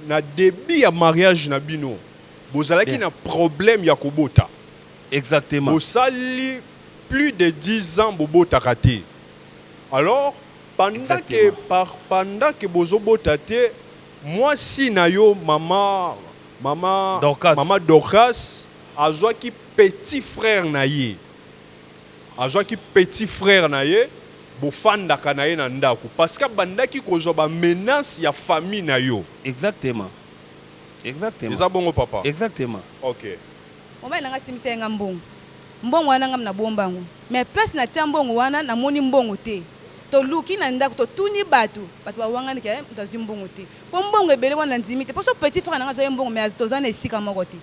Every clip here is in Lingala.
Na debut ya mariage na bino bozalaki yeah. na problème ya kobota. Exactement. Bosali plus de 10 ans bobotaka te. Alors pendant que par pendant que bozobota te mwasi na yo mama mama Dorcas. mama Dorcas azwaki petit frère na ye. Azwaki petit frère na ye bofandaka na ye na ndaku parce qu'abandaki kozwa ba menaces ya famille na yo. Exactement exactement Eza bongo papa? exactement. Ok. Mobali na nga asimbisaki nga mbongo mbongo wana nga nabomba yango mais place na tia mbongo wana na moni mbongo te toluki na ndaku to tuni batu batu ba wangani ke mutu azui mbongo te po mbongo ebele wana na ndimi te po soki petit frère na nga azwaki mbongo mais toza na esika moko te.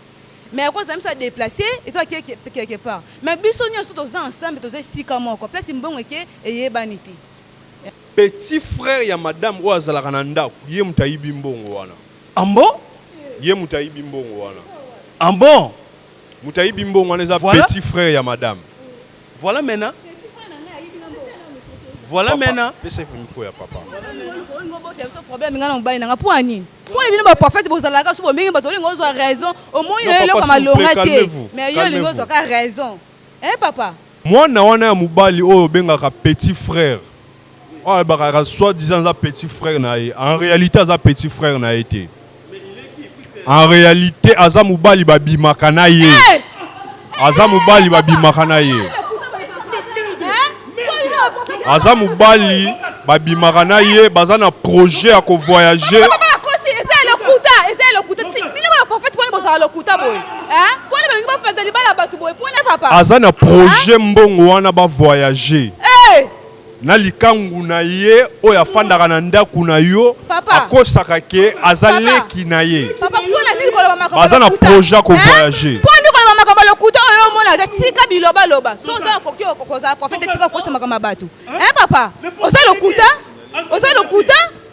mais ya kozala biso ya deplace eza quelque part mais biso nyonso toza ensemble toza esika moko place mbongo eke eyebani te petit frère ya madame oyo azalaka na ndako ye moto ayibi mbongo wana ambo ah ye moto ayibi mbongo wana ambo ah moto ayibi mbongo wana eza voilà. petit frère ya madame voilà maintenant voilà maintenant pesa micro ya papa problème nga na mobali nanga mpo ya nini Pona bino ba prophète bozalaka so bomengi bato olingo ozwa raison omoni na eloko malonga te mais yo olingo ozwa ka raison eh papa mwana wana ya mobali oyo obengaka petit frère oyo alobaka soit disant aza petit frère na ye en réalité aza petit frère na ye te en réalité aza mobali babimaka na ye hey! Eh! aza mobali babimaka na ye aza mobali babimaka na ye baza na projet ya kovoyage aza na projet mbongo wana bavoyage eh! na likangu na ye oyo afandaka na ndaku na yo akosaka ke aza leki na ye baza na projet ya kovoyage makambo lokuta oyo omona te tika bilobaloba so oza okoki kozala profete tika okosa makambo ya bato e papa oza lokuta oza lokuta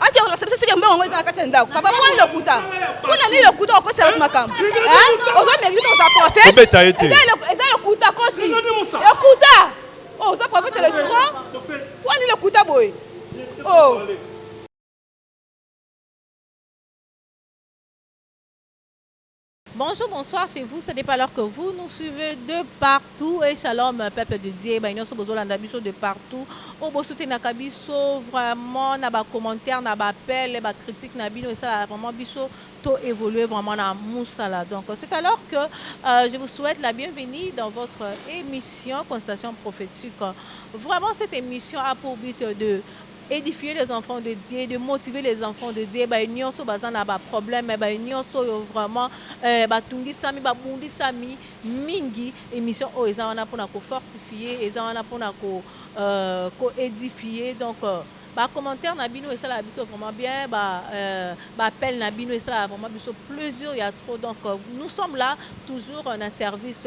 ake kolakisa biso sike mbongo yango eza na kati ya ndako papa mwana lokuta mpona nini lokuta okosela bato makambo ozo merite tokozala profetobeta ye te eza lokuta kosi lokuta oh, oza profete le scro mpona nini lokuta boye oh. Bonjour, bonsoir chez vous, ça dépend alors que vous nous suivez de partout et shalom peuple de Dieu, ba nyoso bozolanda biso de partout, o bosutenaka biso vraiment na ba commentaires, na ba appels, ba critiques na bino esala vraiment biso to évoluer vraiment na musala. Donc c'est alors que euh, je vous souhaite la bienvenue dans votre émission Constatation prophétique. Vraiment cette émission a pour but de Edifier les enfants de Dieu, de motiver les enfants de Dieu, baye nionso baza na ba problèmes, baye nionso oyo vraiment eh, batungisami, babundisami mingi, emission oyo eza wana pona ko fortifier, eza wana pona ko euh, ko edifier donc euh, ba commentaires na bino esalaka biso vraiment bien, ba euh, ba appels na bino esalaka vraiment biso plaisir ya trop donc euh, nous sommes là toujours euh, na service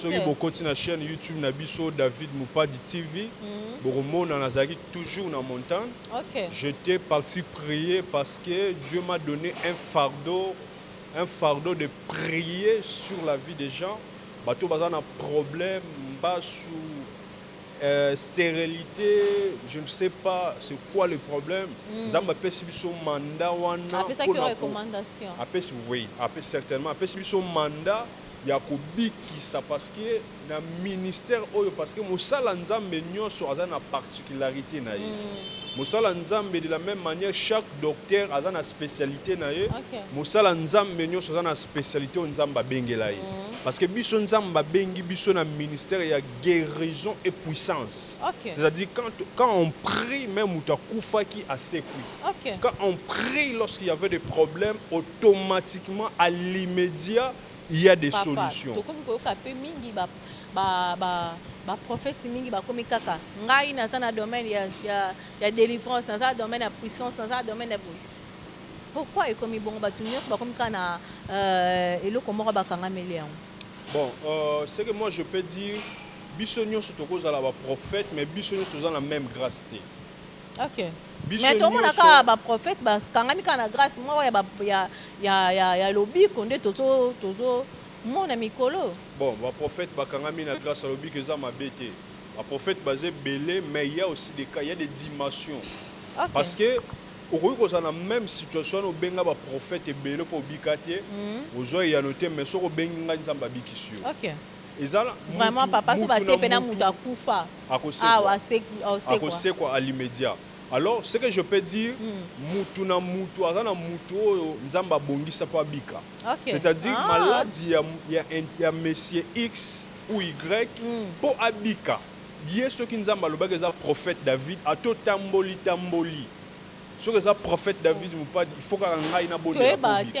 Soki bokoti na chaine YouTube na biso David Mupadi TV bokomona nazalaki toujours na montagne. J'etais parti prier parce que Dieu m'a donne un fardeau, un fardeau de prier sur la vie des gens. Bato oyo baza na problème, mbasu, sterelite, je ne sais pas c'est quoi le problème. Nzambe apesi biso mandat wana. Apesaki yo recommandation? Apesi oui, certainement. Apesi biso mandat. ya kobikisa parce que na ministère oyo parce que mosala nzambe nionso aza na particularite na ye mosala nzambe de la meme manière chaque docteur aza na specialite na ye mosala nzambe nionso aza na specialite oyo nzambe abengela ye parce que biso nzambe abengi biso na ministère ya guerison et puissance c'est à dire quand on prie meme mutu akufaki asekwi Ok. Quand on prie lorsqu'il y avait des problèmes, automatiquement à l'imediat il ya des Papa, solutions. tokomi koyoka pe mingi ba ba ba ba prophètes mingi bakomi kaka ngai naza na domaine ya ya, ya delivrance, naza na domaine ya puissance, naza na domaine ya boye. Pourquoi ekomi bongo batu nionso bakomi kaka na euh, eloko moko bakangameli yango. Bon, euh, ce que moi je peux dire, biso nyonso tokozala ba prophètes, mais biso nyonso toza na même grâce te. Ok. Biso Mais tomona nioso- kaka ba prophètes ba kangami kaka na grace moko ya ba ya ya ya, ya lobiko nde tozo tozo mona mikolo oyo. Bon ba prophètes ba kangami na grace ya lobiko eza mabe te. Ba prophètes baza ebele mais il ya aussi des cas, il ya des dimensions. Ok. Parce que okoki kozala na meme situation wana obenga ba prophètes ebele po obika te, ozua eyano te mais soki obengi ngai Nzambe abikisi yo. Ok. Vraiment papa soki batie pe na mutu akufa awa akosekwa a l'immediat alors ce que je peux dire mutu na mutu aza na mutu oyo nzambe abongisa po abika c'est à dire maladi ya monsieur X ou Y po abika ye soki nzambe alobaki eza prophète David ata otamboli tamboli soki eza prophète David mopadi il faut kaka ngai nabondela po obika.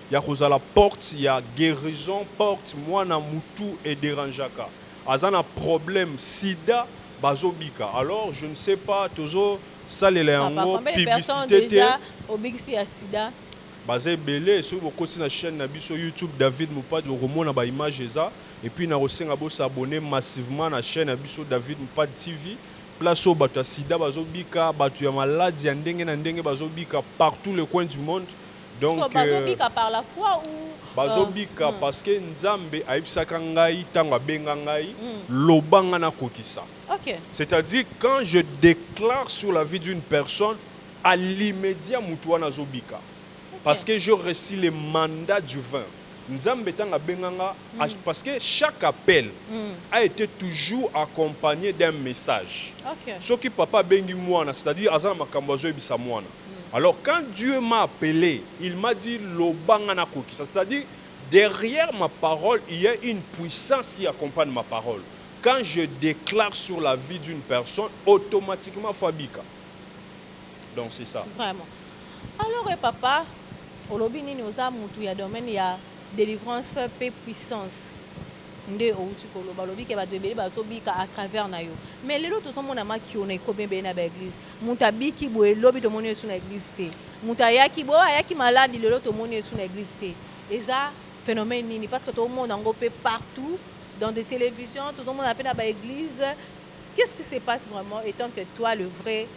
ya kozala porte ya guerison porte muana mutu e derangeaka aza na problème sida bazo bika alors je ne sais pas tozo salela Papa yango combien de personnes publicite te dejà obikisi ya sida? baza ebele soki bokoti na chaine na biso YouTube David Mupad bokomona ba image eza et puis nako senga bo s'abonner massivement na chaine na biso David Mupad TV place oyo batu ya sida bazo bika batu ya malade ya ndenge na ndenge bazo bika partout le coin du monde Donc bazo bika par la foi ou bazo bika parce que nzambe ayebisaka ngai tango abenga ngai loba ngai nakokisa c'est à dire quand je declare sur la vie d'une personne à l'imediat mutu wana azo bika parce que je reçu le mandat du vin nzambe tango abenga nga parce que chaque appel a ete toujours accompagne d'un message soki papa abengi muana c'est à dire aza na makambu azo yebisa muana alors quand Dieu m'a appele il m'a dit loba nga na kokisa c'est à dire derrière ma parole il ya une puissance qui accompagne ma parole quand je declare sur la vie d'une personne automatiquement faut abika donc c'est ça vraiment alors eh papa olobi nini oza mutu ya domaine ya delivrance pe puissance nde outi koloba olobi ke bato ebele bazobika à travers na yo mais lelo tozomona makiona ekomi ebele na baeglise Mutu abiki boye lobi tomoni yesu na eglise te mutu ayaki boye ayaki malade lelo tomoni yesu na eglise te eza phenomène nini parce que to mona ngo pe partout dans de television tozo mona pe na ba eglise qu'est ce qui se passe vraiment etant que toi le vrai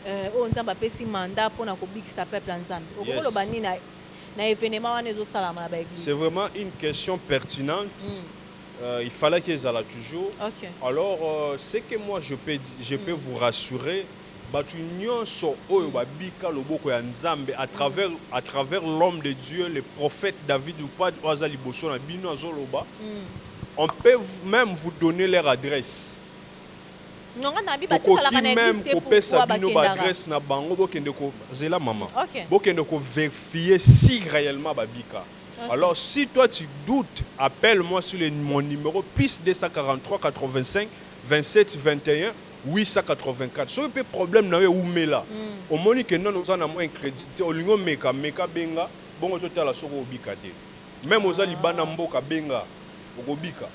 euh, oyo nzambe apesi mandat pona kobikisa peuple ya nzambe okoki koloba yes. nini na, na evenement wana ezosalama na ba eglise c'est vraiment une question pertinente mm. Euh, il fallaki ezala toujours okay. alors euh, ce que moi je peux, je peux mm. vous rassurer bato nyonso oyo babika loboko ya nzambe à travers, à travers l'homme de dieu le prophète david lupad oyo aza liboso na bino azoloba mm. on peut même vous donner leur adresse okoki même kopesa bino baadresse na bango bokende kozela mama okay. bokende koverifie si réellement babika Alors si toi tu doute appelle moi sur le mon numero plus 2438527210884 soki pe problème na yo ewumela omoni que nanu oza na mua incredit te olingi omeka meka benga bongo totala soki okobika te meme oza libanda mboka benga okobika.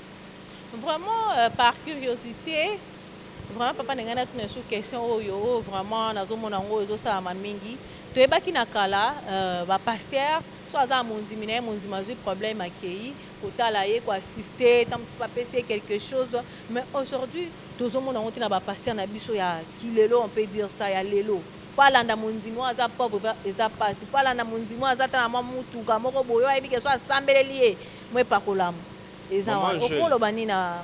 Vraiment par curiosite vraiment papa na ngai natuna lisusu question oyo oyo vraiment nazomona yango ezosalama mingi toyebaki na kala ba pasteurs Soki aza na mondimi na ye, mondimi azwi problème akeyi kotala ye, ko assister, tango mosusu ba pesi ye quelque chose. Mais aujourd'hui tozo mona yango te na ba pasteurs na biso ya ki lelo, on peut dire ça, ya lelo. Po alanda mondimi oyo aza pauvre eza pasi, po alanda mondimi oyo aza ata na mwa mutuka moko boye, oyo ayebi ke soki asambeleli ye, mo epakolama. Eza wana. Okoki koloba nini na.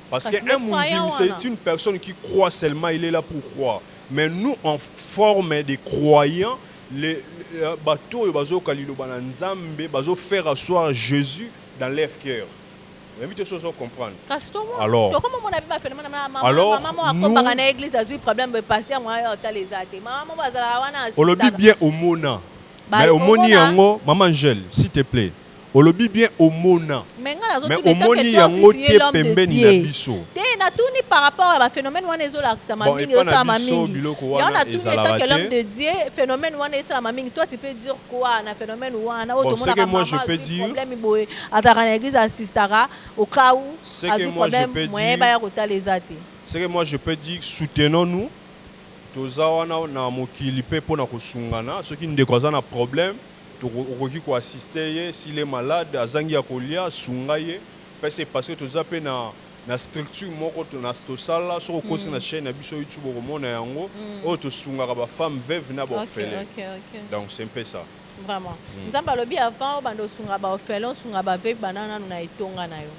Parce que un mundimi c'est une personne qui croit seulement il est là pour croire mais nous en forme des croyants les bato oyo bazo yoka liloba na nzambe bazo faire asseoir jesus dans leur cœur nayebi te soki ozo comprendre alors olobi bien omona mais omoni yango mama angele s'il te plaît Olobi bien omona mais nga nazo tuna etant que toi aussi tu es l'homme de Dieu te na tuni par rapport ya ba phenomène wana ezo lakisa ma mingi ezo sala ma mingi yango na tuni etant que l'homme de Dieu phenomène wana esala ma mingi toi tu peux dire quoi na phenomène wana oyo tomona ka maman azui problème boye azalaka na église assistaka au cas où azui problème moyen baya kotala eza te ce que moi je peux dire soutenons nous toza wana na mokili pe pona kosungana soki ndeko aza na problème Toko okoki ko assister ye s'il est malade azangi ya kolia sunga ye pesa ye parce que toza pe na na structure moko na tosala soki okosi na chaine na biso YouTube okomona yango oyo tosungaka ba femmes veuves na ba orphelins donc c'est un peu ça. Vraiment. Nzambe alobi avant obanda osunga ba orphelins osunga ba veuves banda nanu na etonga na yo.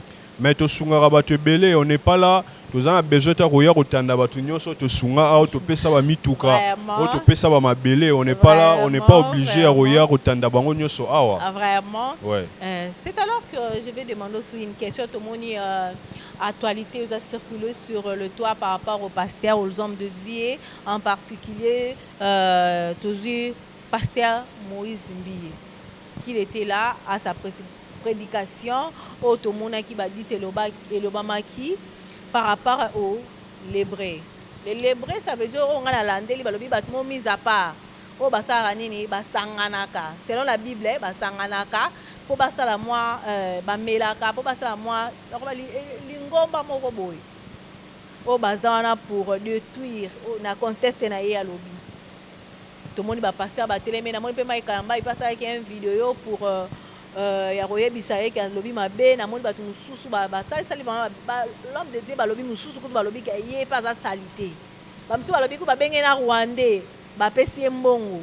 Mais tosungaka batu ebele on n'est pas là toza na besoin te ya koya kotanda batu nionso tosunga awa topesa ba mituka oyo Vraiment. topesa ba mabele on n'est pas là on n'est pas Vraiment, oblige ya koya vraiment. kotanda bango nionso awa Ah, vraiment Ouais. Euh, c'est alors que je vais demander aussi une question tomoni euh, actualité oza circuler sur euh, le toit par rapport au pasteur aux hommes de dieu en particulier euh, tozwi pasteur moïse mbiye qu'il était là à sa précipité predication oyo tomonaki ba dit elobamaki par rapport au lebreu le lebreu ça veut dire oyo nga na landeli balobi batu moko mis à part oyo basalaka nini ba sanganaka selon la bible ba sanganaka po basala mua ba melaka po basala mua nakoba lingomba moko boye oyo baza wana pour detruire na conteste na ye alobi. Tomoni ba pasteurs ba teleme, namoni pe Mike Kalambay pe asalaki un video pour euh, ya koyebisa ye ke alobi mabe, namoni batu mususu ba basali sali vraiment ba l'homme de Dieu balobi mususu kutu balobi ke ye pe aza salite. Ba mususu balobi kutu babengi ye na Rwandais, bapesi ye mbongo.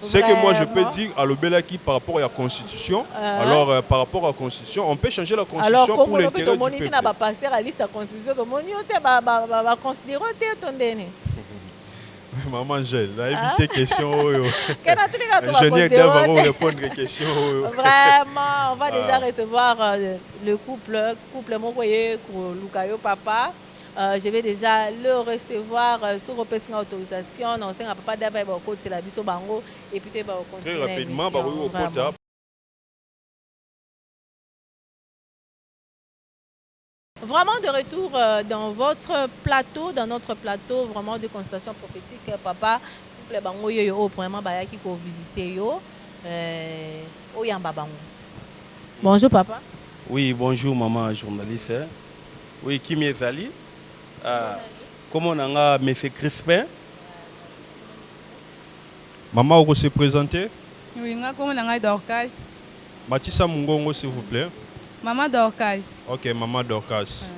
Ce que moi je peux dire, alobelaki par rapport ya constitution. Alors euh, par rapport à constitution, on peut changer la constitution pour l'intérêt du peuple. Alors ba pasteur à liste constitution to moni te ba ba ba, ba considérer te to ndene. Maman Angèle, na évité ah. question oyo. Kana tuli ka tsoba Ingénieur Dava va répondre question oyo. Vraiment, on va déjà ah. recevoir euh, le couple, couple moko ye ko luka yo papa. Je vais dejà le recevoir soki opesi nga autorisation nako senga papa Dave ayeba kokotela biso bango et puis toyeba ko continuer na emission vraiment. Vraiment de retour dans votre plateau dans notre plateau vraiment de constatation prophetique papa couple bango yo yo oyo premièrement bayaki ko visiter yo oyamba bango. Bonjour papa. Oui bonjour maman journaliste. Oui, kimia ezali. Ah, comment na nga Monsieur Crispin. Maman oko se presenter? Oui, nga comment na nga Dorcas. Matisa mungongo s'il vous plait. Maman Dorcas. Ok, maman Dorcas. Ah.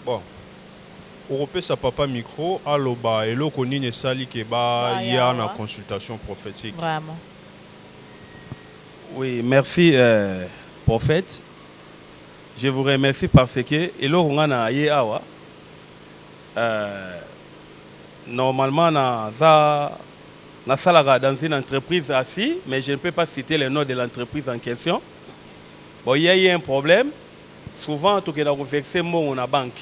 Bon. okopesa papa micro aloba eloko nini esali ke baya na consultation prophétique Vraiment. Oui merci prophète je vous remercie par ce que eloko nga na ye awa normalement na za na salaka dans une entreprise assis mais je ne peux pas citer le nom de l'entreprise en question bon il y a eu un problème souvent tokenda ko verser mbongo na banque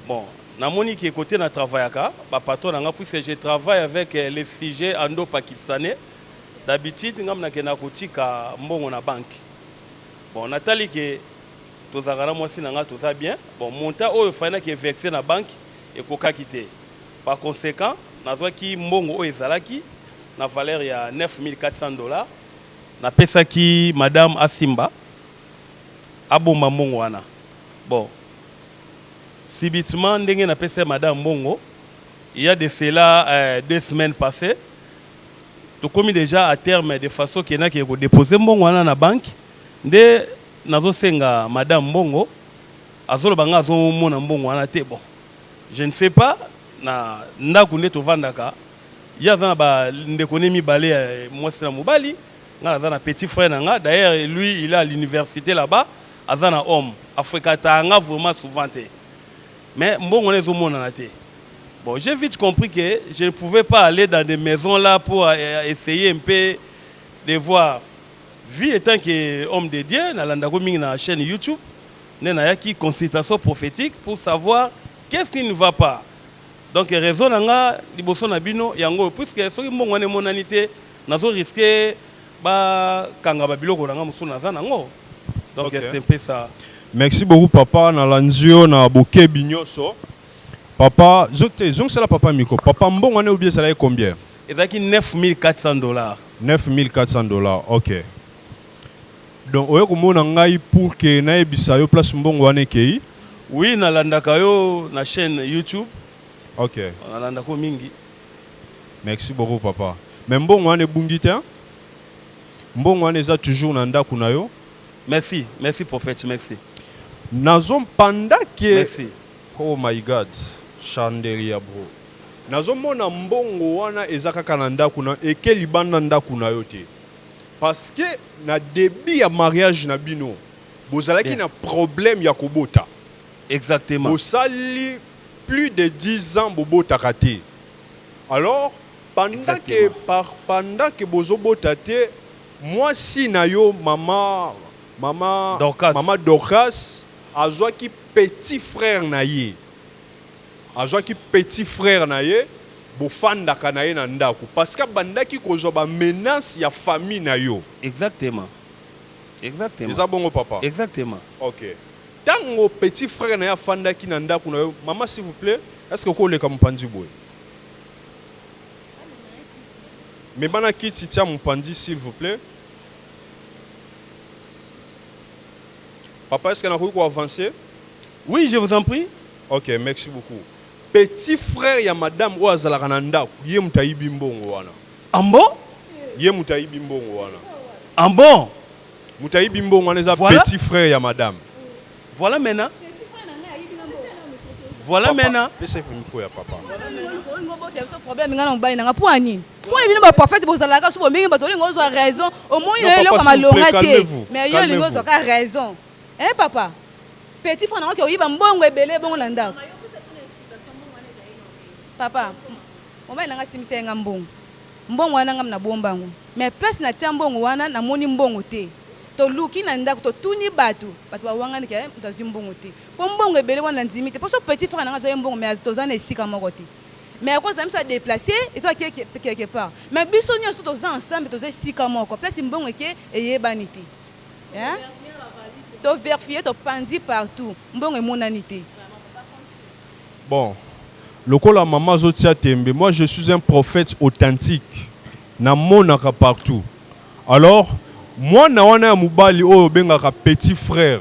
bon na moni ke kote na travaillaka ba patron na nga puisque je travaille avec les sujets ando pakistanais d'habitude ngai nakendaka kotika mbongo na banque bon natali ke tozalaka na mwasi na ngai toza bien bon montant oyo fallait na ke verser na banque ekokaki te par consequent nazwaki mbongo oyo ezalaki na valeur ya 9400 dollars napesaki madame asimba abomba mbongo wana bon subitement ndenge napesa madame mbongo il y a de cela euh, deux semaines passées tokomi dejà à terme de façon que nake ko deposer mbongo wana na banque nde nazo senga madame mbongo azoloba nga azo mona mbongo wana te bon je ne sais pas na ndaku nde tovandaka ye aza na ba ndeko ne mibale ya mwasi na mobali nga naza na petit frère na nga d'ailleurs lui il est à l'université là-bas aza na homme afrekataka nga vraiment souvent te mais mbongo wana ezo monana te Bon j'ai vite compris que je ne pouvais pas aller dans des maisons là pour euh, essayer un peu de voir vie étant que homme de Dieu nalandako mingi na chaîne YouTube nde nayaki consultation prophétique pour savoir qu'est-ce qui ne va pas donc raison na nga liboso na bino yango oyo puisque soki mbongo wana emonani te nazo riske bakanga babiloko na nga mosusu naza nango donc okay. c'est un peu ça merci beaucoup papa nalanzi yo na bokebi nyonso Papa zo te zongisela papa micro papa mbongo wana eobi ezalaki combien? Ezalaki 9400 dollars. 9400 dollars ok donc oye komona ngai pour que nayebisa yo place mbongo wana ekeyi? Oui na landaka yo na chaine YouTube ok na landaka yo mingi. Merci beaucoup papa mais mbongo wana ebungi te hein? Mbongo wana eza toujours na ndaku na yo? Merci merci prophète merci. Nazo pendant que Hoo my God chanderia bro nazo mona mbongo wana eza kaka na ndaku nayo eke libanda ndaku nayo te parce que na debut ya mariage na bino bozalaki na problème ya kobota bosali plus de 10 ans bobotaka te alors pendant que par pendant que bozo bota te muasi nayo mama mama mama dorcas Azwaki petit frère na ye. Azwaki petit frère na ye bofandaka na ye na ndaku parce que abandaki kozwa ba menace ya famille na yo. Exactement. Exactement. Eza bongo papa? Exactement. Ok. Tango petit frère na ye afandaki na ndaku na yo, maman s'il vous plait est ce que oko leka mopanzi boye? Mema na kiti tia mopanzi s'il vous plait. Papa est ce que nakoki ko avance? Oui je vous en prie ok merci beaucoup petit frère ya madame oyo azalaka na ndaku ye mutu ayibi mbongo wana ah bon ye mutu ayibi mbongo wana ah bon mutu ayibi mbongo wana eza voilà. petit frère ya madame voilà maintenant voilà maintenant pesa micro ya papa problème nga na mobali nanga po ya nini Pole bino ba prophète bozalaka so bomengi bato olingo ozwa raison omoni na eloko malonga te mais yo olingo ozwa ka raison eh papa petit frère nango oyiba mbongo ebele bongo na ndako papa mobali nanga asimbisa ye nga mbongo mbongo wana ngam nabomba yango mais place natia mbongo wana namoni mbongo te toluki na ndako totuni bato bato bawangani ke moto azwi mbongo te mpo mbongo ebele wana nandimi te mpo so petit frère nanga azwa ye mbongo mais toza na esika moko te mais ya kozala biso ya deplace etoa quelque part mais biso nyonso toza ensemble toza esika moko place mbongo eke eyebani te toverfie topanzi partout mbongo emonani te bon lokola mama azotia tembe moi je suis un prophète authentique namonaka partout alors mwana wana ya mobali oyo obengaka petit frère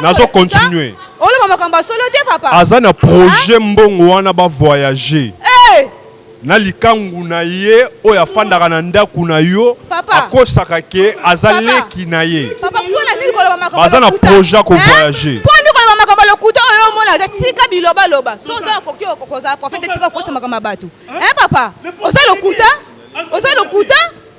nazo continuer oloba makambo ya solo te papa aza na projet ah? mbongo wana ba voyager hey! Eh! na likangu na ye oyo afandaka na ndako na yo akosaka ke aza leki na ye baza na projet kovoyage makambo ya lokuta oyo omona te tika bilobaloba so oza okoki kozala profete tika okosa makambo ya bato e papa oza lokuta oza lokuta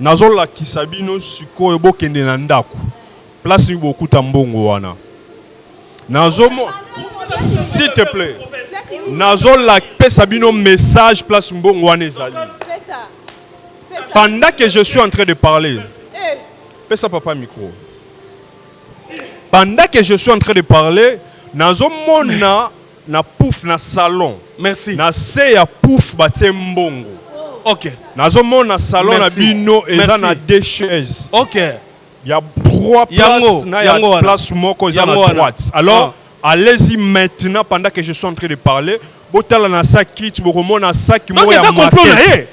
Nazo lakisa bino sikoyo bokende na ndaku place bokuta mbongo wana nazo s'il te plait nazo la pesa bino message place mbongo wana ezali pendant que je suis en train de parler eh. pesa papa micro pendant que je suis en train de parler nazomona Na pouf na salon Merci. na se ya pouf batie mbongo Ok. nazo mona salon na Merci. bino eza Merci. na deux chaises Ok. ya trois Yango, places na ya yango wana. place moko eza na Yango wana. droite alors allez-y maintenant pendant que je suis en train de parler botala na sac kit bokomona sac Donc moko ya eza complot na market. ye.